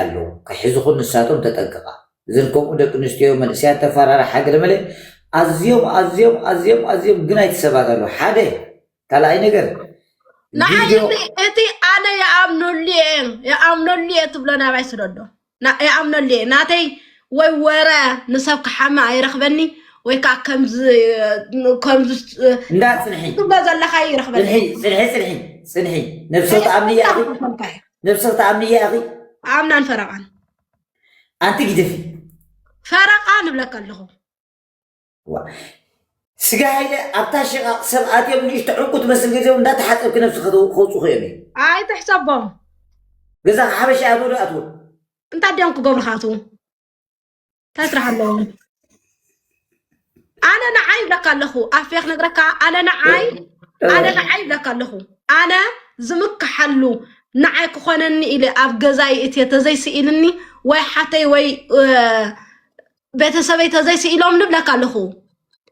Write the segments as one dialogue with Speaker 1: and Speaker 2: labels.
Speaker 1: ኣለዉ ክሕዙኹን ንሳቶም ተጠንቀቃ ዝርከብኡ ደቂ ኣንስትዮ መንእሰያት ተፋራራሓ ገለመለ ኣዝዮም ኣዝዮም ኣዝዮም ኣዝዮም ግናይቲ ሰባት ኣለዉ ሓደ ካልኣይ ነገር ንዓይ ቪድዮ
Speaker 2: እቲ እቲ ኣነ ይኣምነሉ እየ ይኣምነሉ እየ ትብሎ ናባይ ስደዶ ና- ይኣምነሉ እየ ናተይ ወይ ወረ ንሰብ ክሓመ ኣይረኽበኒ ወይ ከዓ ከምዚ ከምዚ እንዳ ፅንሒ
Speaker 1: ትብሎ ዘለካ እዩ
Speaker 2: ፅንሒ
Speaker 1: ይረኽበኒ ፅንሒ ፅንሒ ፅንሒ ነብሰ ተኣምኒ እያ እቲ ነብስኺ ትኣምኒ እያ ኢኺ ኣምናን ፈረቓን
Speaker 2: ኣንቲ
Speaker 1: ግደፊ ፈረቓ
Speaker 2: ንብለካ ኣለኹ ዋ
Speaker 1: ስጋ ሃይለ ኣብታ ሽቓቕ ሰብ ኣትዮም ንእሽቶ ዕንቁ ትመስል ገዜኦም እንዳተሓፀብኪ ነብሲ ከተ- ከውፅኹ እዮም እዮም ኣይትሕሰቦም
Speaker 2: ገዛ
Speaker 1: ሓበሻ ኣበዶ ኣትዎ እንታይ ድዮም
Speaker 2: ክገብሩኻ ኣትዉ እንታይ ስራሕ ኣለዎ ኣነ ንዓይ ይብለካ ኣለኹ ኣፌ ክነግረካ ኣነ ንዓይ ኣነ ንዓይ ይብለካ ኣለኹ ኣነ ዝምክሓሉ ንዓይ ክኾነኒ ኢለ ኣብ ገዛይ እትየ ተዘይስኢልኒ ወይ ሓተይ ወይ እ፣ ቤተሰበይ ተዘይስኢሎም ንብለካ ኣለኹ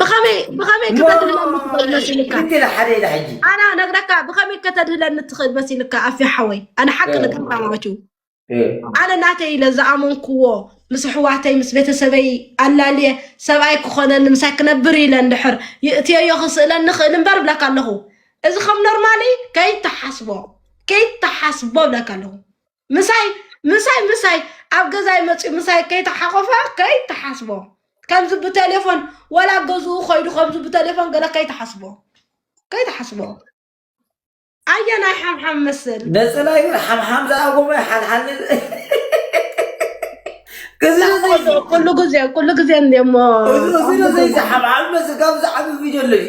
Speaker 2: ብኸመይ ብኸመይ ከተድህለኒ ትኽእል መሲልካ ልክ ኢለ ሓደ ኢለ
Speaker 1: ሕጂ ኣና ነግረካ
Speaker 2: ብኸመይ ከተድህለኒ ትኽእል መሲልካ ኣፊ ሓወይ ኣነ ሓቂ ንገርካ ማለት እዩ እ፣ ኣነ ናተይ ኢለ ዝኣመንክዎ ምስ ኣሕዋተይ ምስ ቤተሰበይ ኣላልየ ሰብኣይ ክኾነኒ ምሳይ ክነብር ኢለ እንድሕር ይእትየዮ ክስእለኒ ክእል እምበር ብለካ ኣለኹ እዚ ከም ኖርማሊ ከይተሓስቦ ከይተሓስቦ ብለካ ኣለኹ ምሳይ ምሳይ ምሳይ ኣብ ገዛይ መፅኡ ምሳይ ከይተሓቆፈ ከይተሓስቦ ከምዚ ብቴሌፎን ወላ ገዝኡ ኮይዱ ከምዚ ብቴሌፎን ገለ ከይተሓስቦ ከይተሓስቦ ኣየናይ ሓምሓም መስል ነፀላ ይብር ሓምሓም
Speaker 1: ዝኣጎመ ሓልሓል
Speaker 2: ኩሉ ግዜ ኩሉ ግዜ እንሞ እዚ
Speaker 1: ሓምሓም መስል ካብ ዝዓቢ ቪድዮ ኣለሽ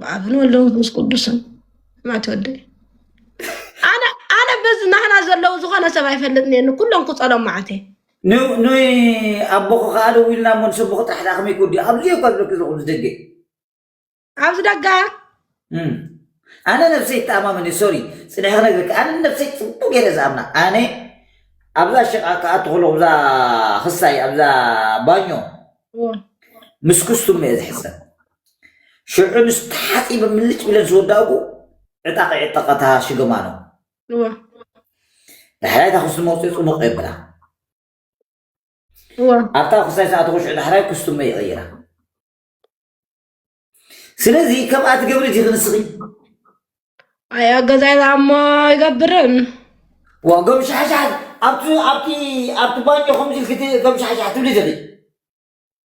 Speaker 2: ብኣብን ወልደ መንፈስ ቅዱስን ማት ወደይ ኣነ ኣነ በዚ ናህና ዘለዉ ዝኾነ ሰብ ኣይፈልጥን እየ ንኩሎም ክፀሎም ማዓት እየ ንይ
Speaker 1: ኣቦኹ ከዓ ደዊልና እሞ ንሰቦኹ ጥራሕ ደኣ ከመይ ክወዲኡ ኣብዚ እየ እኳ ዝብለኪ ዘለኹ ኣብዚ ደገ
Speaker 2: ኣብዚ ደጋ እም። ኣነ
Speaker 1: ነብሰይ ተኣማመን እየ ሶሪ ፅንሒ ክነግርኪ ኣነ ነብሰይ ፅቡቅ ገይረ ዝኣምና ኣነ ኣብዛ ሸቃ ክኣቱ ከለኹ ኣብዛ ክሳይ ኣብዛ ባኞ ምስ ክስቱም እየ ዝሕሰብ ሽዑ ምስ ተሓፂበ ምልጭ ብለን ዝወዳእኩ ዕጣቂ ዕጠቐታ ሽገማ ነው። ዳሕራይ እታ ኩስቲ መውፅኢ ፅቡቕ የብላ ኣብታ ኩስታይ ሰዓት ኩሽዑ ዳሕራይ ኩስትመ ይቕይራ ስለዚ ከምኣ ትገብሪ እቲ ክንስኺ
Speaker 2: ኣዮ ገዛይ ዛሞ ይገብርን ዋ ገም
Speaker 1: ሻሕሻሕ ኣብቲ ኣብቲ ኣብቲ ባኞ ከምዚ ኢልክቲ ገም ሻሕሻሕ ትብሊ ዲኺ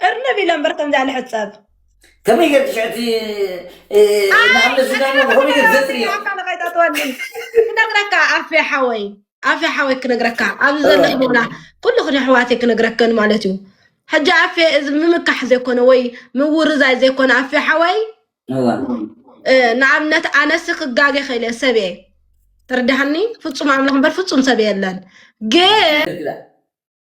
Speaker 1: እርንብ
Speaker 2: ኢለ እምበር ከምዚኣ ልሕጸብ ከመይ ገር
Speaker 1: ትሽዕቲ ንኣምነ ዝገርሞ ከመይ ገር ዘጥሪ ከይታትወኒ
Speaker 2: ክነግረካ ኣፌ ሓወይ ኣፌ ሓወይ ክነግረካ ኣብዚ ዘሎ ህቦና ኩልኽን ኣሕዋተይ ክነግረክን ማለት እዩ ሕጂ ኣፌ እዚ ምምካሕ ዘይኮነ ወይ ምውርዛይ ዘይኮነ ኣፌ ሓወይ እወ እ፣ ንኣብነት ኣነሲ ክጋገ ኸኢለ ሰብ እየ ተረዳሃኒ ፍጹም ኣምላኽ እምበር ፍጹም ሰብ የለን ግን ትርግዳ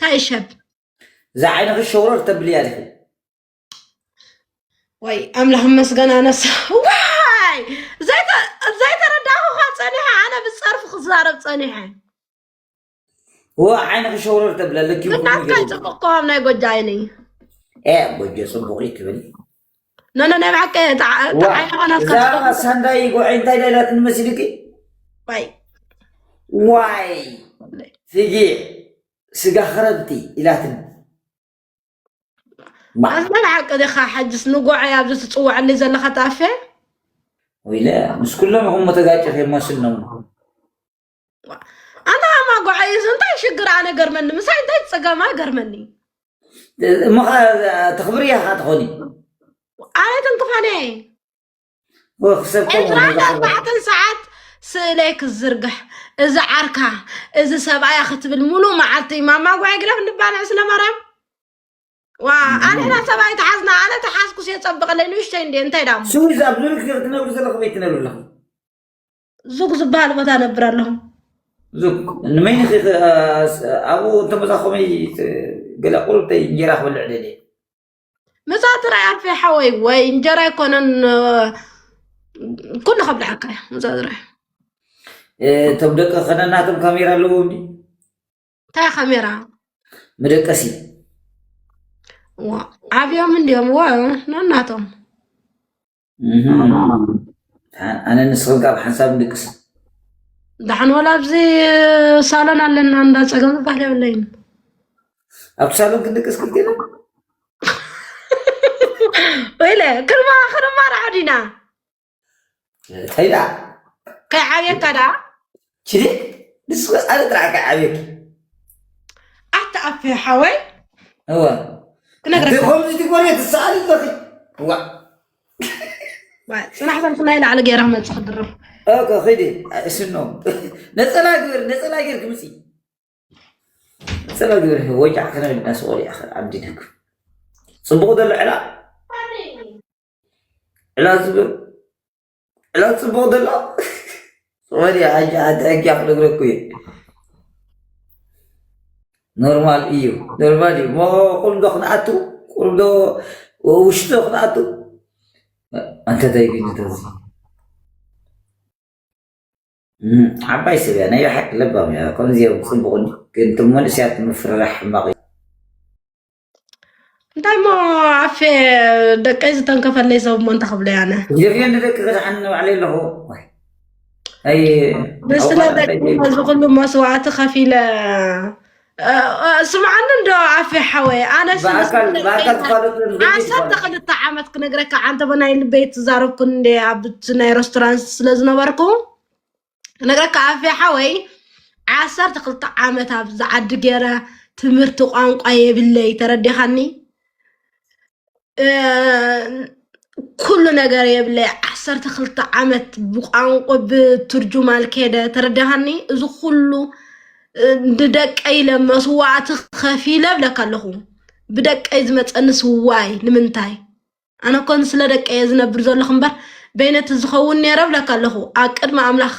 Speaker 1: ታይ
Speaker 2: ሸብ እዛ ዓይንኺ
Speaker 1: ሸውረር ተብልያ ዲኺ
Speaker 2: ወይ ኣምላኽ መስገን ኣነስ ዋይ ዘይተረዳኹኻ ፀኒሐ ኣነ ብፀርፊ ክዛረብ ፀኒሐ
Speaker 1: ዓይንኺ ሸውረር ተብለ ልኪ ናትካ ፅቡቅ ከዋም
Speaker 2: ናይ ጎጃ ዓይኒ ጎጆ
Speaker 1: ፅቡቅ እዩ ትብል ኖኖ ናይ
Speaker 2: ብሓቂ ዓይነኻ ናትካ እዛ ሳንዳይ
Speaker 1: ጉዐይ እንታይ ዳይላትኒ መሲሉኪ ባይ ዋይ ፍጊዕ ስጋ ክረብቲ ኢላትኒ
Speaker 2: ኣዝመን ሓቂ ዲኻ ሓጅስ ንጎዐይ ኣብዚ ትፅውዐኒ ዘለኻ ተኣፌ ወይለ
Speaker 1: ምስ ኩሎም ይኹም ተጋጭ ከይመስል ነው
Speaker 2: ኣንታ ኣማጓዕ እዩስ እንታይ ሽግር ኣነ ገርመኒ ምሳይ እንታይ ፅገማ ገርመኒ እሞ ከዓ
Speaker 1: ተኽብሪ እያ ከዓ ትኾኒ ኣነ
Speaker 2: ትንክፋነ እየ
Speaker 1: ወክሰብ ኤርትራ ከምኡ
Speaker 2: ኣርባዕተን ሰዓት ስእለይ ክዝርግሕ እዚ ዓርካ እዚ ሰብኣያ ክትብል ሙሉእ መዓልቲ ማማጓዕ ግደፍ ንባልዕ ስለ ማርያም ዋ ኣንሕና ሰብኣይ ተሓዝና ኣነ ተሓዝኩስ የፀብቐለይ ንእሽተይ እንደ እንታይ ዳሞ ስዊዝ ኣብ ዙሪክ ክትነብሪ
Speaker 1: ዘለኹ ቤት ትነብሪ ኣለኹ
Speaker 2: ዙግ ዝበሃል ቦታ ነብር ኣለኹ ዙግ
Speaker 1: ንመይኒ ኣብኡ እንተመዛ ከመይ ገለ ቁርብተይ እንጀራ ክበልዕ ደልየ ምሳ
Speaker 2: ጥራይ ኣፌ ሓወይ ወይ እንጀራ ኣይኮነን ኩሉ ከብልዓካ እያ ምሳ ጥራይ እቶም ደቂ
Speaker 1: ከነናቶም ካሜራ ኣለዎ እኒ እንታይ
Speaker 2: ካሜራ መደቀሲ ዓብዮም እንዲዮም ወ ነናቶም
Speaker 1: ኣነ ንስኽን ካብ ሓንሳብ ንድቅስ ዳሓን
Speaker 2: ወላ ኣብዚ ሳሎን ኣለና እንዳ ፀገም ዝበሃል የብለይን ኣብ
Speaker 1: ሳሎን ክንድቅስ ክልቴና
Speaker 2: ወይለ ክርማ ክርማ ራዕዲና ጠይላ
Speaker 1: ከይዓብየካ
Speaker 2: ዳ ችሊክ
Speaker 1: ንሱ ወፃለ ጥራሕ ከዓብየኪ ኣተኣፈ
Speaker 2: ሓወይ እወ
Speaker 1: ክነግረካ
Speaker 2: ከምዚ ትጎርየ ትሰኣል
Speaker 1: ኣለኺ እዋ ፅናሕ
Speaker 2: ዘልኩ ናይ ላዕሊ ገይራ መፅ ክድርብ ኦኮ ኺዲ
Speaker 1: እሽኖ ነፀላ ግበር ነፀላ ገይር ክምፂ ነፀላ ግበር ወጃዕ ክነ እንዳስቆል እያ ኣብዲነክ ፅቡቅ ዘሎ ዕላ ዕላ ዝብል ዕላል ፅቡቕ ደሎ ሶሪ ሓጂ ሓንቲ ሕጊ ክነግረኩ እዩ ኖርማል እዩ ኖርማል እዩ ሞ ቁልዶ ክንኣቱ ቁልዶ ውሽጢ ክንኣቱ ኣንተ ዘይግኝ ተዚ ዓባይ ሰብ እያ ናይ ሓቂ ለባም እያ ከምዚኦም ፅቡቕ ግን ትመንእስያት ምፍርራሕ ሕማቕ እዩ
Speaker 2: እንታይ እሞ ኣፌ ደቀይ ዝተንከፈለይ ሰብ እሞ እንታይ ክብሎ ያነ ጀፍዮ ንደቂ ክድሓኒ
Speaker 1: ባዕለይ ኣለኹ ምስለ
Speaker 2: ደቂ ነዚ ኩሉ መስዋእቲ ከፊለ ስምዓኒ እንዶ ኣፌ ሓወይ ኣነ
Speaker 1: ዓሰርተ ክልተ
Speaker 2: ዓመት ክነግረካ ዓንተበ ናይ ልበይ ትዛረብኩ እንደ ኣብቲ ናይ ረስቶራንት ስለ ዝነበርኩ ነገረካ ኣፌ ሓወይ ዓሰርተ ክልተ ዓመት ኣብ ዝዓዲ ገይረ ትምህርቲ ቋንቋ የብለይ ተረዲኻኒ እ፣ ኩሉ ነገር የብለይ ዓሰርተ ክልተ ዓመት ብቋንቋ ብትርጁማል ከይደ ተረዲኻኒ እዚ ኩሉ እ፣ ንደቀይ ኢለ መስዋእቲ ከፊለ ብለካ ኣለኹ ብደቀይ ዝመፀኒ ስዋይ ንምንታይ ኣነ እኮ ንስለ ደቀይ እየ ዝነብር ዘለኹ እምበር በይነቲ ዝኸውን ነይረ እብለካ ኣለኹ ኣብ ቅድሚ ኣምላኽ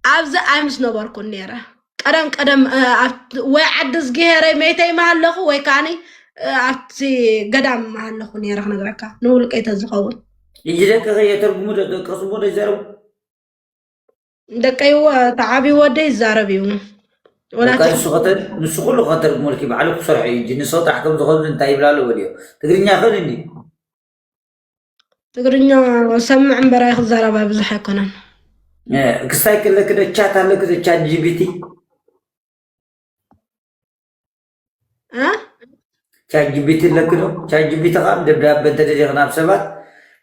Speaker 2: ኣብዚ ኣይምስ ነበርኩን ነይረ ቀደም ቀደም እ፣ ኣብ- ወይ ዓዲ ዝገሄረይ መይተይ ምሃለኹ ወይ ከዓኒ እ፣ ኣብቲ ገዳም ምሃለኹ ነይረ ክነግረካ ንውልቀይ ተዝኸውን ሕጂ ደቅኺ
Speaker 1: የተርጉሙ ዶ ደቅኺ ስሞ ዶ ይዛረቡ ደቀይ
Speaker 2: ተዓቢ ወደ ይዛረብ እዩ በቃ
Speaker 1: ንሱ ከተል ንሱ ኩሉ ከተርጉመልኪ ባዕሉ ክሰርሖ እዩ እንጂ ንሰው ጥራሕ ከም ዝኸብዱ እንታይ ይብላ ኣለዎ ድዮ ትግርኛ ይኽእል እንዲ
Speaker 2: ትግርኛ ሰምዕ እምበር ኣይክዛረባ ብዙሕ ኣይኮነን
Speaker 1: ክስታይ ከለኪ ዶ ቻት ኣለኪ ዶ ቻት ጂቢቲ ቻት ጂቢቲ ኣለኪ ዶ? ቻት ጂቢቲ ከዓ ደብዳበ እንተደሊኺ ናብ ሰባት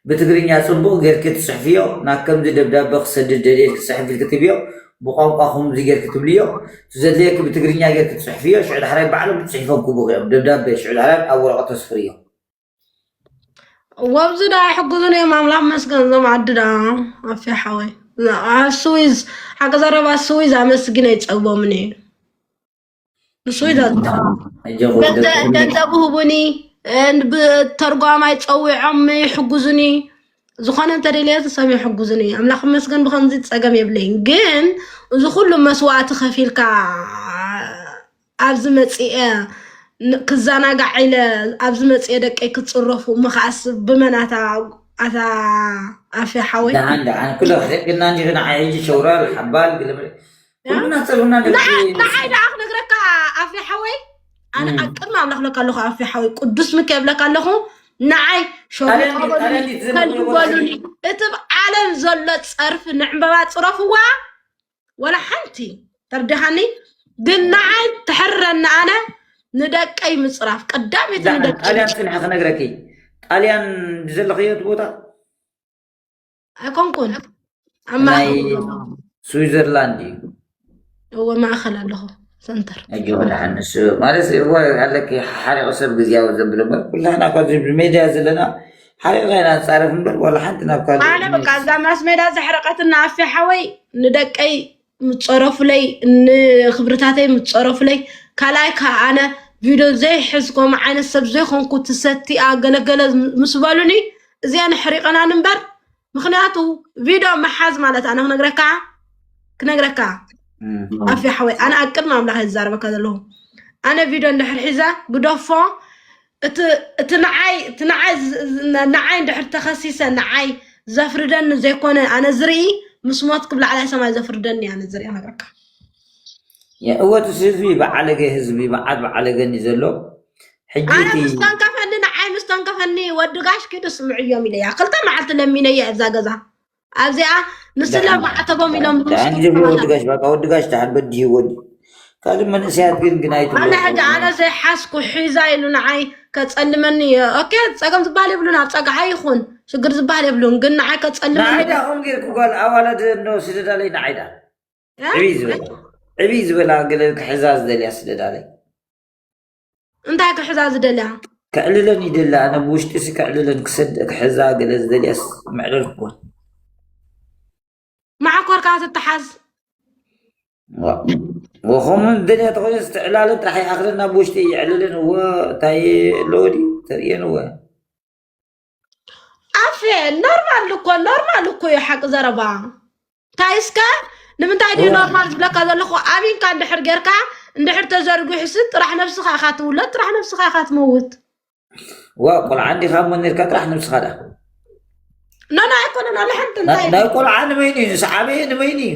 Speaker 1: ብትግርኛ ፅቡቕ ጌርኪ ትፅሕፍዮ ናብ ከምዚ ደብዳበ ክሰድድ ደልየ ኢልኪ ፅሕፍ ኢልኪ ትብዮ ብቋንቋኹም እዚ ጌርኪ ትብልዮ እቲ ዘድልየኪ ብትግርኛ ጌርኪ ትፅሕፍዮ ሽዑ ዳሕራይ ባዕሎም ፅሒፎም ክህቡኺ እዮም ደብዳበ ሽዑ ዳሕራይ ኣብ ወረቐት ተስፍርዮ ወብዚ
Speaker 2: ዳ ኣይሕግዙን እዮም ኣምላኽ መስገን ዞም ዓዲ ዳ ኣፊ ሓወይ ስዊዝ ሓቂ ዘረባ ስዊዝ ኣመስግን ኣይፀግቦምን እዩ ንሱ ኢሎ ገንዘብ ህቡኒ ብተርጓማይ ፀዊዖም ይሕጉዙኒ ዝኾነ እንተደልየ ሰብ ይሕጉዙኒ ኣምላኽ መስገን ብከምዚ ፀገም የብለይን ግን እዚ ኩሉ መስዋእቲ ከፊልካ ኣብዚ መፅአ ክዘናጋዕ ኢለ ኣብዚ መፅአ ደቀይ ክፅረፉ እሞ ከዓስ ብመናታ ኣታ ኣፌ ሓወይ ደሓን ደሓን ኩለ ክሕግና
Speaker 1: እንጂ ንዓይ ሕጂ ሸውራር ሓባል ኩሉና ፀልኡና ንዓይ ደኣ
Speaker 2: ክነግረካ ኣፌ ሓወይ ኣነ ኣብ ቅድሚ ኣምላኽ ለካ ኣለኹ ኣፌ ሓወይ ቅዱስ ምከ የብለካ ኣለኹ ንዓይ ሸሩበሉኒ እቲ ብ ዓለም ዘሎ ፀርፊ ንዕምበባ ፅረፍዋ ወላ ሓንቲ ተርዲኻኒ ግን ንዓይ ትሕረኒ ኣነ ንደቀይ ምፅራፍ ቀዳመይቲ ጣልያን ስንሐ ክነግረኪ
Speaker 1: ጣልያን ብዘለኽዮ ቦታ ኣይኮንኩን
Speaker 2: ኣብ ናይ
Speaker 1: ስዊዘርላንድ እዩ
Speaker 2: እወ ማእኸል ኣለኹ ሰንተር ሕጂ ወድሓን ንሱ
Speaker 1: ማለት እወ ኣለኪ ሓሪቑ ሰብ ግዜያዊ ዘብል እምበር ኩላህና እኳ እዚ ብሜድያ ዘለና ሓሪቕና ኢና ንፃረፍ እምበር ዋላ ሓንቲ ናብ ካልእ ኣነ በቃ እዛ ማስ
Speaker 2: ሜዳ ዘሕረቐትና ኣፌ ሓወይ ንደቀይ ምፀረፉለይ ንክብርታተይ ምፀረፉለይ ካልኣይ ከዓ ኣነ ቪድዮ ዘይሕዝ ከምኡ ዓይነት ሰብ ዘይኮንኩ ትሰቲኣ ገለገለ ምስ በሉኒ እዚኣን ሕሪቐናን እምበር ምክንያቱ ቪድዮ ምሓዝ ማለት ኣነ ክነግረካ ክነግረካ ኣፊ ሓወይ ኣነ ኣብ ቅድሚ ኣምላኽ ይዛረበካ ዘለኹ ኣነ ቪድዮ እንድሕር ሒዘ ግደፎ እቲ እቲ ንዓይ እቲ ንዓይ ዝ- ዝ- ን- ንዓይ እንድሕር ተኸሲሰ ንዓይ ዘፍርደኒ ዘይኮነ ኣነ ዝርኢ ምስ ሞት ክብ ላዕላይ ሰማይ ዘፍርደኒ ኣነ ዝርኢ ነገርካ
Speaker 1: የ- እወ እቲ ህዝቢ በዓለገ ህዝቢ መዓት በዓለገን እዩ ዘሎ ሕጂ ኣነ እቲ
Speaker 2: ምስ ተንከፈኒ ንዓይ ምስ ተንከፈኒ ወዲ ጋሽ ኪዱ ስምዕዮም ኢለያ ክልተ መዓልቲ ለሚነያ ኣብዛ ገዛ ኣብዚኣ ምስላ ማዕተቦም ኢሎም ኣንጂ ወዲ ጋሽ
Speaker 1: በቃ ወዲ ጋሽ ተዓል በዲህ ወዲ ካልእ መንእሰያት ግን ግን ኣይትብሎ ሕጂ ኣነ
Speaker 2: ዘይሓስኩ ሒዛ ኢሉ ንዓይ ከጸልመኒ እየ ኦኬ ጸገም ዝበሃል የብሉን ኣብ ጸግዓ ይኹን ሽግር ዝበሃል የብሉን ግን ንዓይ ከጸልመኒ ንዓይዳ ከም ጌርኩ
Speaker 1: ጓል ኣዋላድ እንዶ ስደዳለይ ንዓይዳ ዕብይ ዝበላ ዕብይ ዝበላ ገለ ክሕዛ ዝደልያ ስደዳለይ
Speaker 2: እንታይ ክሕዛ ዝደልያ ከዕልለን ይደሊ
Speaker 1: ኣነ ብውሽጢ ሲ ከዕልለን ክሕዛ ገለ ዝደልያስ ምዕለል ክኮን ማዓኮርካ
Speaker 2: ትተሓዝ
Speaker 1: ወኸምኡ ዝደልያ ተኮይነ ዝተዕላለን ጥራሕ ይኣክለን ናብ ውሽጢ ይዕልለን እወ እንታይ ኣለዎ ድዩ ተርእየን እወ
Speaker 2: ኣፌ ኖርማል እኮ ኖርማል እኮ እዩ ሓቂ ዘረባ እንታይ እስከ ንምንታይ ድዩ ኖርማል ዝብለካ ዘለኹ ኣብንካ እንድሕር ጌርካ እንድሕር ተዘርጊሑሲ ጥራሕ ነብስኻ ኢኻ ትውለድ ጥራሕ ነብስኻ ኢኻ ትመውት ዋ
Speaker 1: ቆልዓ እንዲኻ እሞ ነርካ ጥራሕ ነብስኻ ዳ
Speaker 2: ኖኖ ኣይኮነን ኣለ ሓንቲ እንታይ ናይ ቆልዓ
Speaker 1: ንበይኑ እዩ ንሰዓበየ ንበይኑ እዩ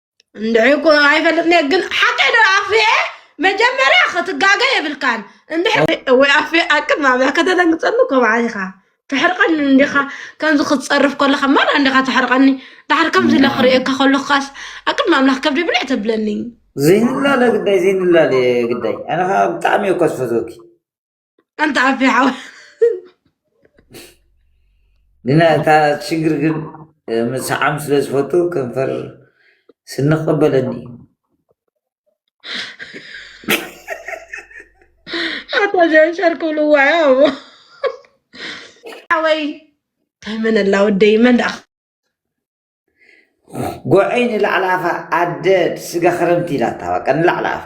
Speaker 2: እንድዒ እኮ ኣይፈልጥን እየ ግን ሓቀይ ዶ ኣፍየ መጀመርያ ክትጋገ የብልካን እንድሕር ወይ ኣፍየ ኣቅድሚ ኣብያ ከተደንግፀሉ ከምዓ ኢኻ ትሕርቀኒ እንዲኻ ከምዚ ክትፀርፍ ከለኻ ማን እንዲኻ ትሕርቀኒ ድሓር ከምዚ ኢለ ክርእየካ ከለካስ ኣቅድሚ ኣምላኽ ከብደ ብልዕ ተብለኒ ዘይንላለ
Speaker 1: ግዳይ ዘይንላለ ግዳይ ኣነ ከዓ ብጣዕሚ እየ እኳ ዝፈትወኪ ኣንተ
Speaker 2: ዓፊ ሓወ
Speaker 1: ግና እታ ሽግር ግን ምስዓም ስለ ዝፈቱ ከንፈር ስንቀበለኒ
Speaker 2: ኣታ ሸርሸር ክብልዋ ያዎ ሓወይ እንታይ መን ኣላ ወደይ መን ደኣ
Speaker 1: ጎዐይ ንላዕሊ ኣፋ ኣደ ስጋ ክረምቲ ኢላታ በቃ ንላዕሊ ኣፋ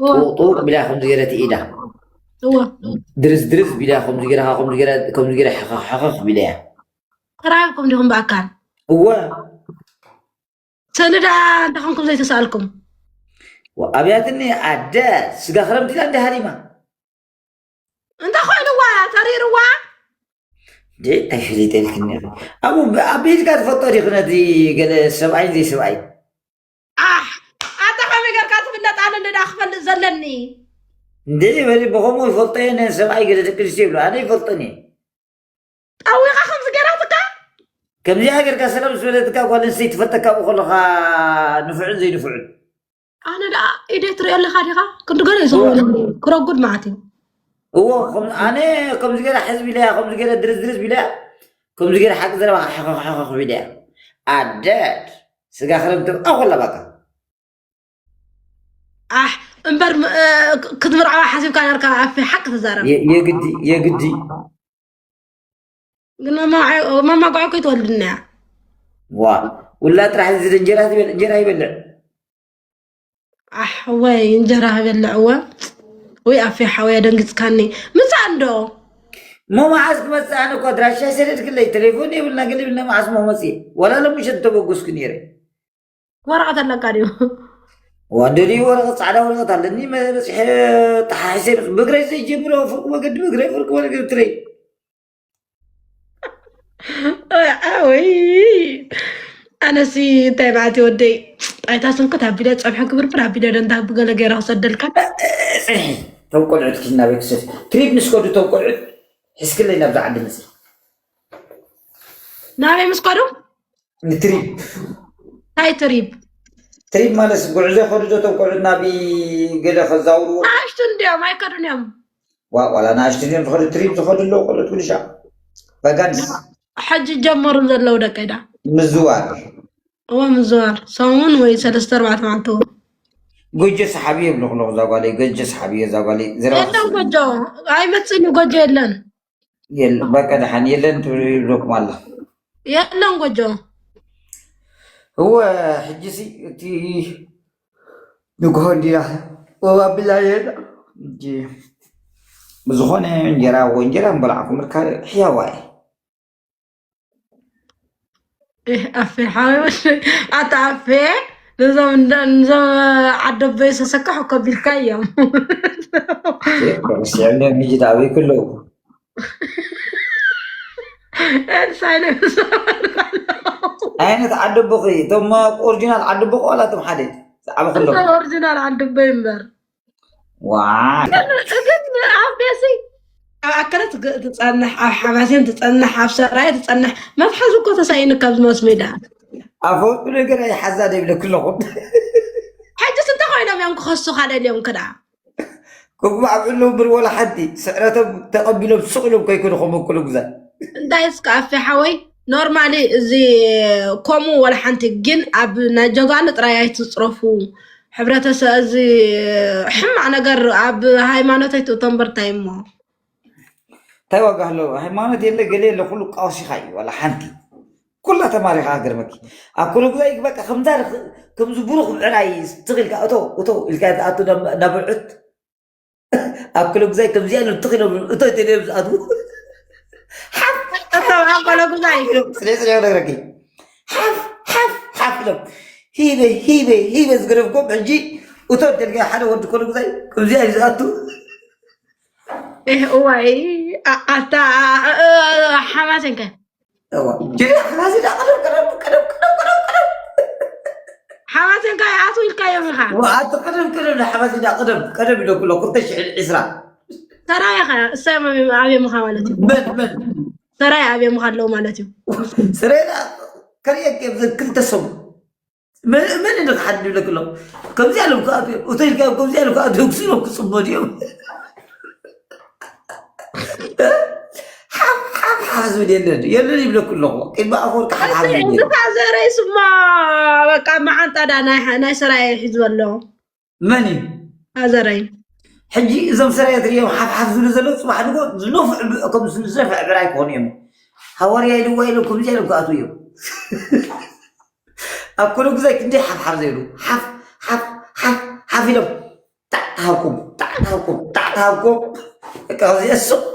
Speaker 1: ጥውቕ ጥውቕ ቢላ ከምዚ ገይረ ትኢዳ
Speaker 2: ድርዝ ድርዝ
Speaker 1: ቢላ ከምዚ ገይረ ከምዚ ገይረ ከምዚ ገይረ ሕኸኽ ሕኸኽ ቢለያ ተራኺብኩም
Speaker 2: ዲኹም ብኣካል እወ ሰልዳ
Speaker 1: እንታይ
Speaker 2: ኮንኩም ዘይተሰኣልኩም
Speaker 1: ኣብያትኒ ኣደ ስጋ ክረምቲ ኢላ እንደ ሃሪማ
Speaker 2: እንታይ ኮይኑዋ ተሪርዋ
Speaker 1: ደይ ኣይፍልጠልክኒ ኣብኡ ኣብ ቤትካ ትፈልጦ ዲኺ ነቲ ገለ ሰብኣይን ዘይሰብኣይን ኣሕ
Speaker 2: ኣታ ከመይ ጌርካ ትፍለጥ ኣነ እንደ ክፈልጥ ዘለኒ እንዴ
Speaker 1: በሊ ብኸምኡ ይፈልጦ እየ ነን ሰብኣይ ገለ ደቂ ኣንስትዮ ይብሉ ኣነ ይፈልጦን እየ
Speaker 2: ጠዊኻ ከምዚ ገራትካ ከምዚኣ
Speaker 1: ጌርካ ሰላም ምስ በለትካ ጓል ኣንስተይቲ ትፈልጠካ ብኡ ከለኻ ንፍዑን ዘይንፍዑን ኣነ
Speaker 2: ደኣ ኢደይ ትሪኦ ኣለካ ዲኻ ክንዲ ገለ እዩ ዝኸውን ክረጉድ መዓት እዩ እዎ
Speaker 1: ከም- ኣነ ከምዚ ገይረ ሕዝቢ ኢለያ ከምዚ ገይረ ድርዝ ድርዝ ቢለያ ከምዚ ገይረ ሓቂ ዘረባ ሓኸኽ ኢለያ ኣደድ ስጋ ክረብ ድርቃ ኮላ ባታ
Speaker 2: ኣሕ እምበር ክትምርዓዋ ሓሲብካ ነርካ ኣፌ ሓቂ ትዛረብ የግዲ የግዲ ግን መማጓዕ ኮይ ትወልድና እያ ዋ
Speaker 1: ውላ ጥራሕ እዚ እንጀራ ይበልዕ ኣሕ
Speaker 2: ወይ እንጀራ ክበልዕ እወ ወይ ኣፌ ሓወይ ኣደንግፅካኒ ምፃእ እንዶ እሞ
Speaker 1: መዓዝ ክመፅእ ኣነ እኮ ኣድራሻይ ሰደድክለይ ቴሌፎን የብልና ገለ የብልና መዓዝ እሞ መፅእ ዋላ ሎሚ ሸት ተበገስኩ ነይረ ወረቐት
Speaker 2: ኣለካ ድዩ ዋን
Speaker 1: ደልዩ ወረቐት ፃዕዳ ወረቐት ኣለኒ መ- በፂሐ ተሓሒሰ ይመፅ ብእግረይ ዘይጀምሮ ፍርቂ መገዲ ብእግረይ ፍርቂ መገዲ ትለይ
Speaker 2: ወይ ኣነሲ እንታይ በዓቲ ወደይ ጣይታ ስንኩት ኣቢለ ፀብሒ ክብርብር ኣቢለ ደንታ ብገለ ገይረ ክሰደልካ ፅንሒ
Speaker 1: እቶም ቆልዑት ኪድ ናብ ቤተሰብ ትሪፕ ንስከዱ እቶም ቆልዑት ሕዝክለይ ናብዛ ዓዲ ምፅ
Speaker 2: ናበይ ምስ ከዱ ንትሪፕ
Speaker 1: እንታይ
Speaker 2: ትሪፕ ትሪፕ ማለት ጉዕዞ
Speaker 1: ከዱ ዶ እቶም ቆልዑት ናብ ገለ ከዛውርዎ ናእሽቱ እንዲዮም
Speaker 2: ኣይከዱን እዮም ዋእ ዋላ
Speaker 1: ንኣሽቱ ድዮም ዝኸዱ ትሪፕ ዝኸዱ ኣለዉ ቆልዑት ጉድሻ ቫጋንስ ሕጂ
Speaker 2: ጀመሩ ዘለዉ ደቀይ ዳ ምዝዋር
Speaker 1: እወ
Speaker 2: ምዝዋር ሰሙን ወይ ሰለስተ ኣርባዕተ መዓልቲ እዎ ጎጆ
Speaker 1: ሰሓቢ የብልኹ ኣለኹ እዛ ጓለይ ጎጆ ሰሓቢ እየ እዛ ጓለይ ዝረባ የለን
Speaker 2: ጎጆ ኣይመፅእን እዩ ጎጆ የለን የለን
Speaker 1: በቃ ደሓን የለን ትብሉ ይብለኩም ኣሎ የለን
Speaker 2: ጎጆ
Speaker 1: እወ ሕጂ ሲ እቲ ንግሆ እንዲና ወብ ኣብላ የና እንጂ ብዝኾነ እንጀራ ወ እንጀራ ምበላዕኩም እካ ሕያዋ እየ
Speaker 2: ኣፌ ሓወይ ኣታ ኣፌ ነዞም እንዳ- ነዞም ዓደ ኣቦይ ሰሰካሑ ከቢልካ እዮም
Speaker 1: ኮንስዕነ ምጅት ኣበይ ከለዉ ኤልሳይ ናይ ዓይነት ዓዲ ኣቦኺ እቶም ኦሪጂናል ዓዲ ኣቦኺ ዋላ እቶም ሓደ ብዛዕባ ከለዉ ኦሪጂናል ዓደ ኣቦይ
Speaker 2: እምበር ኣከለት ትፀንሕ ኣብ ሓማሴን ትፀንሕ ኣብ ሰራየ ትፀንሕ መትሓዚ እኮ ተሳኢኑ ካብዚ ማስ ሜዳ ኣፈወጡ
Speaker 1: ነገር ኣይሓዛ ደይብለኩ ኣለኹ ሕጅስ
Speaker 2: እንተ ኮይኖም እዮም ክኸሱኻ ደልዮም ክዳ
Speaker 1: ክጉባዕብሉ ብር ወላ ሓንቲ ስዕረቶም ተቐቢሎም ስቕ ኢሎም ከይኮኑ ክምክሉ ግዛ እንታይ እስከ
Speaker 2: ኣፌ ሓወይ ኖርማሊ እዚ ከምኡ ወላ ሓንቲ ግን ኣብ ናይ ጀጋኑ ጥራይ ኣይትፅረፉ ሕብረተሰብ እዚ ሕማቅ ነገር ኣብ ሃይማኖት ኣይትእቶም በርታይ እሞ እንታይ
Speaker 1: ዋጋ ኣለዎ ሃይማኖት የለ ገለ የለ ኩሉ ቃውሲኻ እዩ ዋላ ሓንቲ ኩላ ተማሪኻ ገርመኪ ኣብ ኩሉ ግዜ በቃ ከምዛ ከምዚ ብሩኽ ምዕራይ ትኽኢልካ እቶ እቶ ኢልካ ትኣቱ ናብ ብዕት ኣብ ክለጉዛይ ከምዚኣ ኢሎም ትኽ ኢሎም እቶ ተደም ዝኣትዉ ሓፍ እቶም ኣብ
Speaker 2: ክለጉዛይ ኢሎም ስለ ስለ ነግረኪ
Speaker 1: ሓፍ ሓፍ ሓፍ ኢሎም ሂበ ሂበ ሂበ ዝገደፍኩም ሕጂ እቶ ደልጋ ሓደ ወዲ ክለጉዛይ ከምዚኣ እዩ ዝኣቱ
Speaker 2: እዋይ ኣታ ሓማት እንከ ሓዋት እንታይ ኣቱ ኢልካዮም ኢኻ ኣቲ ቅድም ቅድም
Speaker 1: ንሓዋት ኢዳ ቅድም ቅድም ኢለ ኩሎ ክልተ ሽሕን ዕስራ ሰራይ
Speaker 2: ኸ እሳይ ኣብየ ምኻ ማለት እዩ መን መን
Speaker 1: ሰራይ
Speaker 2: ኣብየ ምኻ ኣለዉ ማለት እዩ ስሬዳ
Speaker 1: ከርእየክ ክልተ ሰሙ መን እንዶ ክሓድግ ይብለክ ኣሎ ከምዚ ኣሎም ክኣት ሆቴል ካብ ከምዚ ኣሎም ክኣት ህግሱ ኢሎም ክፅመዱ እዮም ሓፍሓፍ ዝብል የለን የለን ይብለኩ ኣለኹ ቅድሚ ኣፈወርቂ ሓፍሓፍ ዝብል የለን እንድኻ ዘረይ
Speaker 2: ስማ በቃ መዓንጣዳ ናይ ናይ ሰራየ ሒዝበሎ መን
Speaker 1: እዩ ኣዘራይ
Speaker 2: ሕጂ እዞም
Speaker 1: ሰራይ እትሪኦም ሓፍሓፍ ዝብሉ ዘለዉ ፅባሕ ድጎ ዝነፍዑ ከም ዝነፍዐ ብራይ ክኾኑ እዮም ሃዋርያ ኢልዋ ኢሎም ከምዚ ኢሎም ክኣትዉ እዮም ኣብ ኩሉ ግዜ ክንደይ ሓፍሓፍ ዘይብሉ ሓፍ ሓፍ ሓፍ ሓፍ ኢሎም ጣዕ ተሃብኩም ጣዕ ተሃብኩም ጣዕ ተሃብኩም ከምዚኣ ሱቕ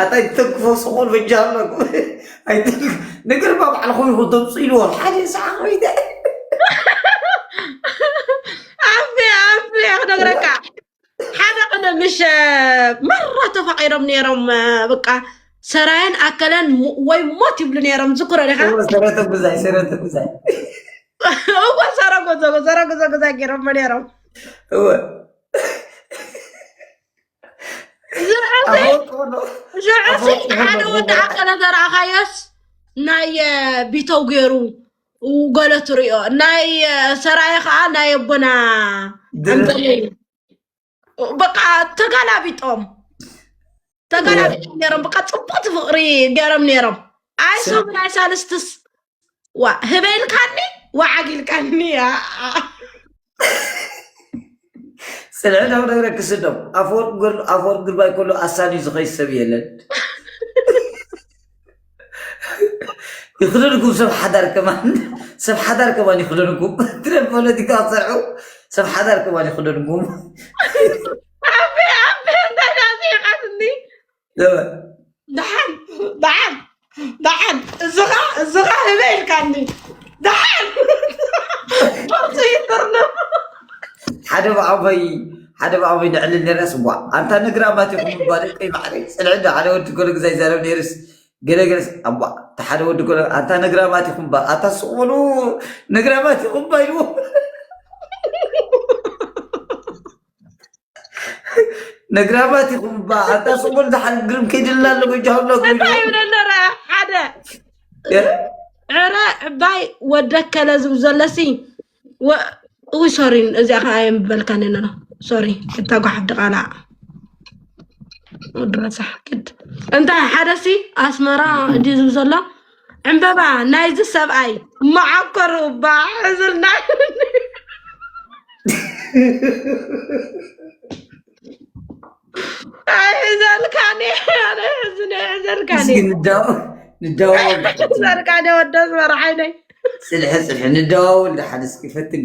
Speaker 1: ኣታይ ትተክፎ ስቁል ብጃለኩ ንግር ባዕልኹ ይኹ ድምፂ ኢልዎ ሓደ ሰዓ ኮይደ
Speaker 2: ኣፍ ኣፍ ክነግረካ ሓደ ቅነ ምሽ መራ ተፋቂሮም ነይሮም በቃ ሰራየን ኣከለን ወይ ሞት ይብሉ ነይሮም ዝክሮ ዲኻ ሰረተ ጉዛይ ሰረተ
Speaker 1: ጉዛይ
Speaker 2: እወ ሰረጎዘጎ ሰረጎዘጎዛይ ገይሮም ነይሮም እወ ዝዕፍኝ ሓደ ወዲ ኣከለ ዘረኣኻዮስ ናይ ቢተው ገይሩ ገለ ትሪኦ ናይ ሰራየ ከዓ ናይ ኣቦና በቃ ተጋላቢጦም ተጋላቢጦም ነይሮም በቃ ፅቡቅቲ ፍቅሪ ገይሮም ነይሮም ኣይ ሰሙን ኣይ ሳልስትስ ዋ ህበይ ኢልካኒ ወዓግ ኢልካኒ
Speaker 1: ስልዕናዊ ነገር ክስደው ኣፈወርቅ ግርባይ ከሎ ኣሳኒ ዝኸይ ሰብ የለን ይኽደንኩም ሰብ ሓዳር ከማን ሰብ ሓዳር ከማን ይኽደንኩም ትረ ፖለቲካ ክሰርዑ ሰብ ሓዳር ከማን ይኽደንኩም
Speaker 2: ኣቤ ኣቤ እንታይ ዳዚኻትኒ ዘበ ደሓን ደሓን ደሓን እዝኻ እዝኻ ህበ ኢልካኒ ደሓን ቅርፂ ይትርነ ሓደ ብዓበይ
Speaker 1: ሓደ ብዓበይ ንዕሊ ነርያስ ዋ ኣንታ ነግራማት ይኹም ባል ቀይ ማዕረ ፅልዕ ዶ ሓደ ወዲ ገሎ ግዛ ይዛረብ ነርስ ገለገለስ ኣዋ እቲ ሓደ ወዲ ገሎ ኣንታ ነግራማት ይኹም ባ ኣታ ስቕበሉ ነግራማት ይኹም ባ ኢልዎ ነግራባት ኢኹም እባ ኣታ ሰሙን ዝሓል ግርም ከይድልና ኣሎ ጎጃሁና እንታይ ይብለኒ ረ
Speaker 2: ሓደ ዕረ ዕባይ ወደከለ ዝብ ዘለሲ እው ሶሪ እዚኣ ከዓ የምበልካኒ ነሎ ሶሪ እታ ጓሓፍ ድቓላ ወዲ ረሳሕ ግድ እንታይ ሓደሲ ኣስመራ እንዲ ዝብ ዘሎ ዕምበባ ናይዚ ሰብኣይ መዓኮሩ እባ ሕዝልና ኣይሕዘልካኒ ኣነ ሕዝነ ሕዘልካኒ እስኪ ንደዋወል ንደዋወል
Speaker 1: ድሓን እስኪ። ዘርካደ
Speaker 2: ወደስ መርዓይነይ ፅልሐ ፅልሐ
Speaker 1: ንደዋወል ድሓን እስኪ ፈትኒ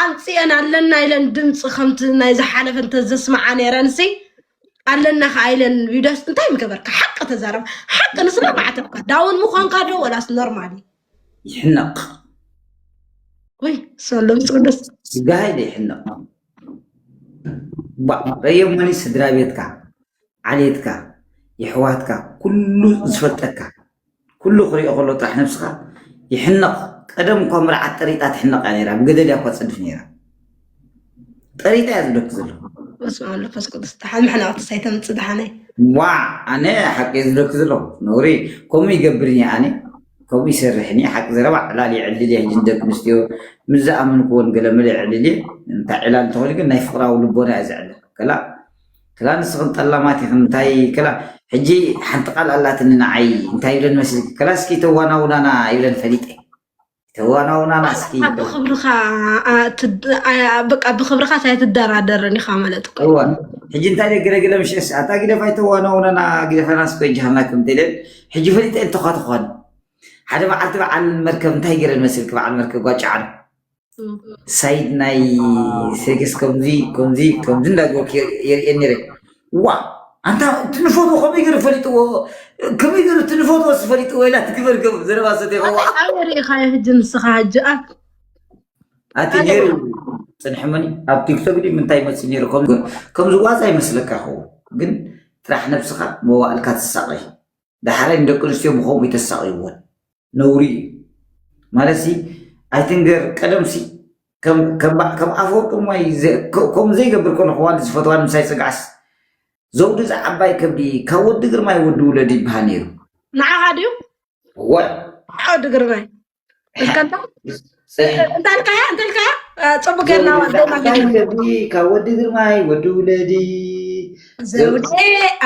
Speaker 2: ኣምፅኤን ኣለና ኢለን ድምፂ ከምቲ ናይ ዝሓለፈ እንተዘስምዓ ነይረን ሲ ኣለና ከዓ ኢለን ቪዳስ እንታይ ምገበርካ ሓቂ ተዛረብ ሓቂ ንስና ማዕተብካ ዳውን ምኳንካ ዶ ወላስ ኖርማል እዩ ይሕነቕ ወይ ሰሎ ምስቅዱስ ስጋይ ዘይሕነቕ
Speaker 1: ባዕ ቀየሞኒ ስድራ ቤትካ ዓሌትካ የሕዋትካ ኩሉ ዝፈልጠካ ኩሉ ክሪኦ ከሎ ጥራሕ ነብስኻ ይሕነቕ ቀደም እኳ መርዓት ጠሪጣ ትሕነቕ እያ ነይራ ብገደድ እያ እኳ ትፅድፍ ነይራ ጠሪጣ እያ ዝብለኪ ዘለኹ
Speaker 2: በስመ ኣብ መንፈስ ቅዱስ ደሓን መሕነቕቲ ሳይተምፅእ ደሓነይ ዋዕ
Speaker 1: ኣነ ሓቂ ዝብለኪ ዘለኹ ነውሪ ከምኡ ይገብርን እየ ኣነ ከምኡ ይሰርሕን እየ ሓቂ ዘረባ ዕላል የዕልል እየ ሕጂ ንደቂ ኣንስትዮ ምስ ዝኣመንክዎን ገለመለ የዕልል እየ እንታይ ዕላል እንተኾይኑ ግን ናይ ፍቕራዊ ልቦና እየ ዘዕልል ከላ ክላ ንስኽን ጠላማት ኢኽን እንታይ ክላ ሕጂ ሓንቲ ቃል ኣላትኒ ንዓይ እንታይ ይብለን መስልኪ ክላ እስኪ ተዋናውናና ይብለን ፈሊጠ ተዋናውናና እስኪ
Speaker 2: በቃ ብክብርኻ ኣይትደራደርን ኢኻ ማለት እኮ እዋ ሕጂ
Speaker 1: እንታይ ደ ግደግለ ምሸስ ኣታ ግደፍ ኣይተዋናውናና ግደፈና እስኮ ጃሃና ከም ተለን ሕጂ ፈሊጠ እንተኳ ትኾን ሓደ በዓልቲ በዓል መርከብ እንታይ ገረን መስልኪ በዓል መርከብ ጓጫዓን ሳይድ ናይ ሴክስ ከምዚ ከምዚ ከምዚ እንዳገበርኩ የርእየን ነይረ ዋ ኣንታ እቲ ንፈትዎ ከመይ ገይሩ ፈሊጥዎ ከመይ ገይሩ እቲ ንፈትዎ ዝፈሊጥዎ ኢላ ትግበር ከም ዘረባ ሰተ ይኸዋ ኣበይ ርኢኻዮ ሕጂ
Speaker 2: ንስኻ ሕጂ ኣብ
Speaker 1: ኣቲ ነይሩ ፅንሕመኒ ኣብ ቲክቶክ ዲ ምንታይ ይመፅእ ነይሩ ከም- ከምዚ ዋዛ ይመስለካ ይኸውን ግን ጥራሕ ነብስኻ መዋእልካ ትሳቐይ ዳሕራይ ንደቂ ኣንስትዮ ብከምኡ ይተሳቕይወን ነውሪ እዩ ማለት ሲ ኣይትንገር ቀደም ሲ ከም ኣፈወርቂ ማይ ከምኡ ዘይገብር ኮነ ክዋን ዝፈትዋ ንምሳይ ፅግዓስ ዘውዲ ዝዓባይ ከብዲ ካብ ወዲ ግርማይ ወዲ ውለድ ይበሃል ነይሩ ንዓኻ ድዩ ወዲ
Speaker 2: ግርማይ እንተልካያ እንተልካያ ፅቡቅ ገርና ካብ ወዲ
Speaker 1: ግርማይ ወዲ ውለዲ ዘውዴ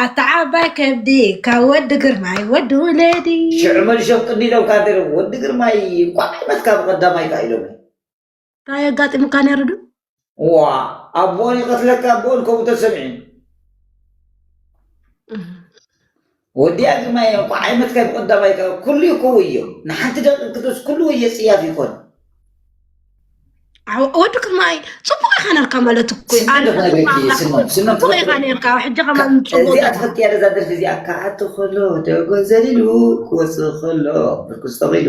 Speaker 2: ኣተዓባይ ከብዲ ካብ ወዲ ግርማይ ወዲ ውለዲ ሽዑ መልሾም ቅኒ
Speaker 1: ኢሎም ካደረ ወዲ ግርማይ እንኳዕ ዓይመትካ ብቀዳማይካ ኢሎም እንታይ
Speaker 2: የጋጢሙካ ነይሩ ዶ ዋ
Speaker 1: ኣቦን ይቐትለካ ኣቦን ከምኡ ተሰሚዑ ወዲያ ግማ እየ እኳ ዓይመትካ ብቐዳማይ ከ ኩሉ ይከው እዮ ንሓንቲ ደቂ ክደስ ኩሉ ወየ ፅያፍ ይኮን
Speaker 2: ወዲ ክማይ ፅቡቅ ኢካ ነርካ ማለት እኮ ፅቡቅ ኢካ ነርካ ሕጂ ከማ እዚኣ ትፈትያ ደዛ
Speaker 1: ደርፊ እዚኣ ክዓቲ ከሎ ደጎ ዘሊሉ ክወፅእ ከሎ ብርክስ ተቂሉ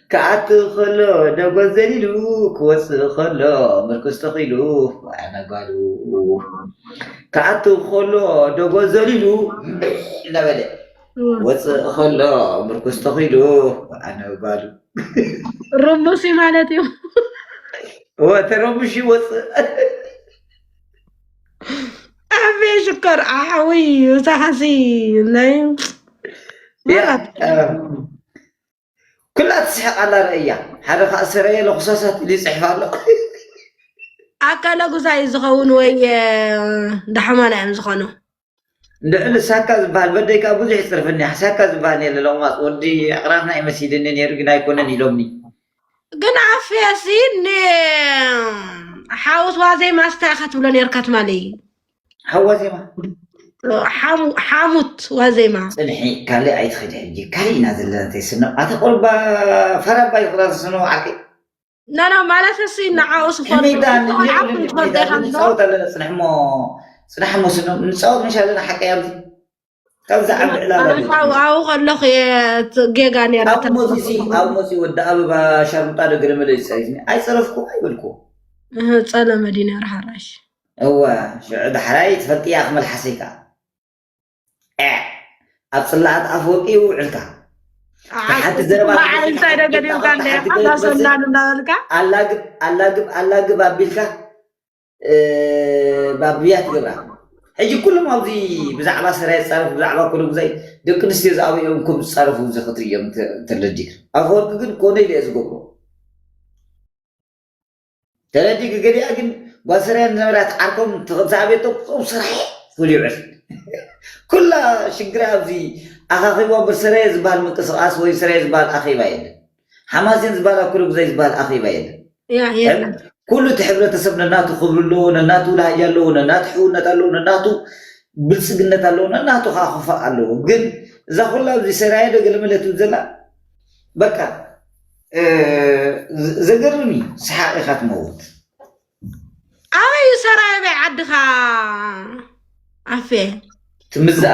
Speaker 2: ክኣቱ
Speaker 1: ከሎ ደጎል ዘሊሉ ክወጽእ ከሎ ምርኩስ ተኺሉ ዋዕላ ጓሉ ክኣቱ ከሎ ደጎል ዘሊሉ እናበለ ክወጽእ ከሎ ምርኩስ ተኺሉ ዋዕላ ጓሉ ርሙስ
Speaker 2: እዩ ማለት እዩ ወተረሙሽ
Speaker 1: ይወጽእ
Speaker 2: ኣቤ ሽኮር ኣሓዊ ሳሓሲ ናይ ያ
Speaker 1: ኩላ ትስሕቅ ኣላ ረእያ ሓደ ከዓ ሰረየ ለኩሳሳት ኢሉ ይፅሕፍ ኣሎ ኣካለ
Speaker 2: ጉዛይ እዩ ዝኸውን ወይ ዳሕማና እዮም ዝኾኑ ልዕሊ
Speaker 1: ሳካ ዝበሃል በደይ ከዓ ብዙሕ ይፅርፍኒ ሳካ ዝበሃል የለ ለቑማፅ ወዲ ኣቕራትና እዩ መሲልኒ ነይሩ ግን ኣይኮነን ኢሎምኒ ግን
Speaker 2: ኣፍያሲ ንሓውስ ዋዘይ ማስታ ክትብሎ ነርካ ትማሊ
Speaker 1: ሓዋዜማ ሓሙት
Speaker 2: ዋዜማ ፅንሒ ካልእ ኣይትኸዲ
Speaker 1: ሕጂ ካልእ ኢና ዘለና ተይስኖ ኣቲ ቆልባ ፈራባ ይቕራ ዝስኖ ዓቂ ናና
Speaker 2: ማለት ሲ ንዓኡ ስፈልጡዓቁንትፈልጠይካንፃወት
Speaker 1: ኣለና ፅንሕ እሞ ፅናሕ እሞ ስኖ ንፃወት መሻ ኣለና ሓቂ ኣብዚ ካብዚ ዓቢ ዕላማ ኣነ ድዩ? ካብኡ
Speaker 2: ኣብኡ ከለኹ እየ እቲ ጌጋ ነይራ ካብኡ ተረፍ መፂኡ
Speaker 1: ሲ ኣብኡ መፂኡ ወዲ ኣበባ ሻርሙጣ ዶ ገለመለ እዩ ፀሪፍኒ ኣይፀረፍኩ ኣይበልኩዎ እህ፣ ፀለመ
Speaker 2: ድዩ ነይሩ ሓራሽ እወ
Speaker 1: ሽዑ ዳሕራይ ትፈልጥያ ክመልሓሰይ ከዓ ኤዕ ኣብ ፅላኣት ኣፈወርቂ እዩ ውዕልካ ሓንቲ ዘረባ ዓቅባ ተገዲፍካ እንታይ ሓንቲ ገዲፍካ ገዲምካ
Speaker 2: እንደ ተሓቲ ገለ ሓዛ ትመፅእ ሰናን እንዳበልካ ኣላግብ ኣላግብ
Speaker 1: ኣላግብ ኣቢልካ ባብያ ትገብራ ሕጂ ኩሎም ኣብዚ ብዛዕባ ሰራየ ዝፃረፉ ብዛዕባ ኮሎጉዛይ ደቂ ኣንስትዮ ዝኣበኦም ከም ዝፃረፉ እዚ ክትርእዮም ተለዲክ ኣፈወርቂ ግን ኮነ ኢለ እየ ዝገብሮ ተለዲክ ገሊኣ ግን ጓል ሰራየ ዝነበራ ትዓርኮም ተክንሳኣቤቶም ቁፅኦም ሰራየ ፍሉይ ዕርፊ ኩላ ሽግራ ኣብዚ ኣኻኺባ እምበር ሰራየ ዝበሃል ምንቅስቃስ ወይ ሰራየ ዝበሃል ኣኼባ የለን ሓማሴን ዝባሃል ኣብ ኩሉግዘይ ዝባሃል ኣኼባ የለን። የለን።
Speaker 2: ኩሉ እቲ ሕብረተሰብ
Speaker 1: ነናቱ ክብሪ ኣለዎ፣ ነናቱ ላህጃ ኣለዎ፣ ነናቱ ሕውነት ኣለዎ፣ ነናቱ ብልፅግነት ኣለዎ፣ ነናቱ ከዓ ክፋእ ኣለዎ። ግን እዛ ኩላ ኣብዚ ሰራየ ዶ ገለመለ ትብል ዘላ በቃ ዘገርም እዩ። ሰሓቕ ኢኻ ትመውት።
Speaker 2: ኣበይ እዩ ሰራየ በይ ዓድኻ ኣፌ ትምዝኣ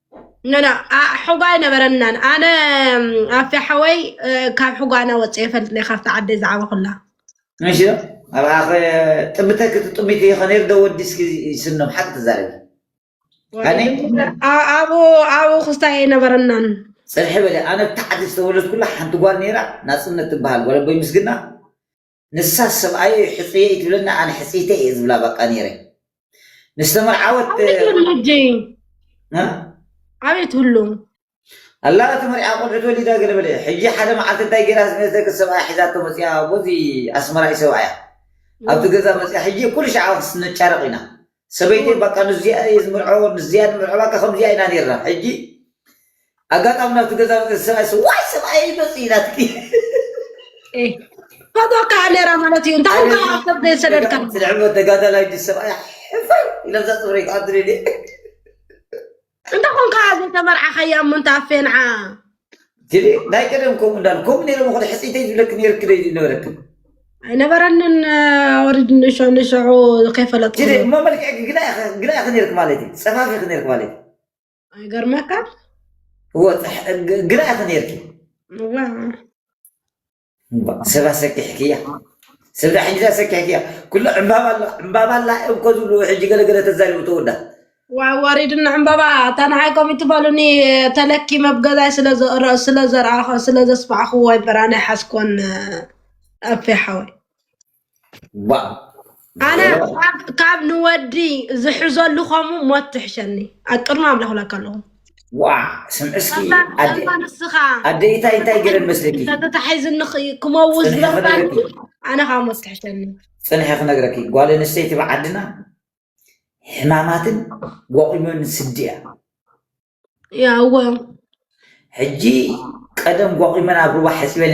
Speaker 1: ኖኖ
Speaker 2: ሕጓ ኣይነበረናን ኣነ ኣፌ ሓወይ ካብ ሕጓና ወፀ የፈልጥ ናይ ካብቲ ዓደይ ዝዓበ ኩላ እሺ
Speaker 1: ኣብ ኣኸ ጥብተክ ትጥቢት ይኸነ ዶ ወዲስኪ ይስኖም ሓቂ ትዛረቢ ኣነ
Speaker 2: ኣብኡ ኣብኡ ክስታይ ኣይነበረናን ፅርሒ በለ ኣነ
Speaker 1: ብታዕዲ ዝተወለድኩላ ሓንቲ ጓል ነይራ ናፅነት ትበሃል ጓል ኣቦይ ምስግና ንሳስ ሰብኣየይ ሕጹየይ ትብለኒ ኣነ ሕጽይተይ እየ ዝብላ በቃ ነይረ ምስ ተመርዓወት ኣቤት ሁሉም
Speaker 2: ኣላ
Speaker 1: ተመርዓ ቆልዑት ወሊዳ ገለ በለ ሕጂ ሓደ መዓልቲ እንታይ ገይራ ዝመስለክ ሰብኣያ ሒዛቶ መፅያ ቦዚ ኣስመራይ ሰብኣያ ኣብቲ ገዛ መፅያ ሕጂ ኩሉ ሸዓ ክስንጫረቕ ኢና ሰበይተይ ባቃ ንዙያ እየ ዝምርዖ ንዙያ ንምርዖ ባቃ ከምዙያ ኢና ነርና ሕጂ ኣጋጣሚ ናብቲ ገዛ መፅእ ሰብኣይ ስ ዋይ ሰብኣይ ይመፅእ ናትኪ
Speaker 2: ፎቶ ከዓ ነራ ማለት እዩ እንታይ እንኳ ሓሳብ ዘይሰደድካ ስልዕመ ተጋዳላይ ዲ
Speaker 1: ሰብኣይ ሕፈር ኢለምዛ ፅፍረይ ክኣድሪ
Speaker 2: እንተ ኮንካ ዘይተመርዓኻያ እሞ እንተ ኣፌንዓ ጅሪ ናይ
Speaker 1: ቀደም ከምኡ እንዳሉ ከምኡ ነይሮም ኹ ሕፅይተይ ዝብለክን ነርክ ደይ ነበረክን ኣይነበረንን
Speaker 2: ወሪድ ንሾ ንሸዑ ከይፈለጥኩ ጅሪ እሞ መልክዕ
Speaker 1: ግና ኢኸ ነርክ ማለት እዩ ፀፋፊ ኢኸ ነርክ ማለት እዩ
Speaker 2: ኣይገርመካ
Speaker 1: ግና ኢኸ ነርክ እምባእ ሰብ ኣሰኪሕክያ ሰብ ዳ ሕጂ ኣሰኪሕክያ ኩሉ ዕምባባ ኣሎ ዕምባባ ኣላ እዮም እኮ ዝብሉ ሕጂ ገለ ገለ ተዛሪቡ ተወዳ ዋይ ወሪድና
Speaker 2: ዕምባባ እታ ንዓይ ከምኡ ትበሉኒ ተለኪ መብገዛይ ስለ ዘረ- ስለ ዘርኣኸ ስለ ዘስማዕኽዎ እምበር ኣነ ኣይሓዝኮን ኣፌ ሓወይ ኣነ ካብ ንወዲ ዝሕዘሉ ከምኡ ሞት ትሕሸኒ ኣብ ቅድሚ ኣምላኽ ብላካ ኣለኹ
Speaker 1: ስምዕስኪእማ ንስኻ ኣደኢታይ እንታይ ገረን መስለኪ ተተታሒዝኒ
Speaker 2: ክመውት ዝበርካ ኣነ ካብ ሞት ትሕሸኒ ፅንሐ ክነግረኪ
Speaker 1: ጓል ኣንስተይቲ ብዓድና ሕማማትን ወቂሞን ስዲ እያ ያወ ሕጂ ቀደም
Speaker 2: ወቂመን ኣብ
Speaker 1: ሩባ ሕፅበን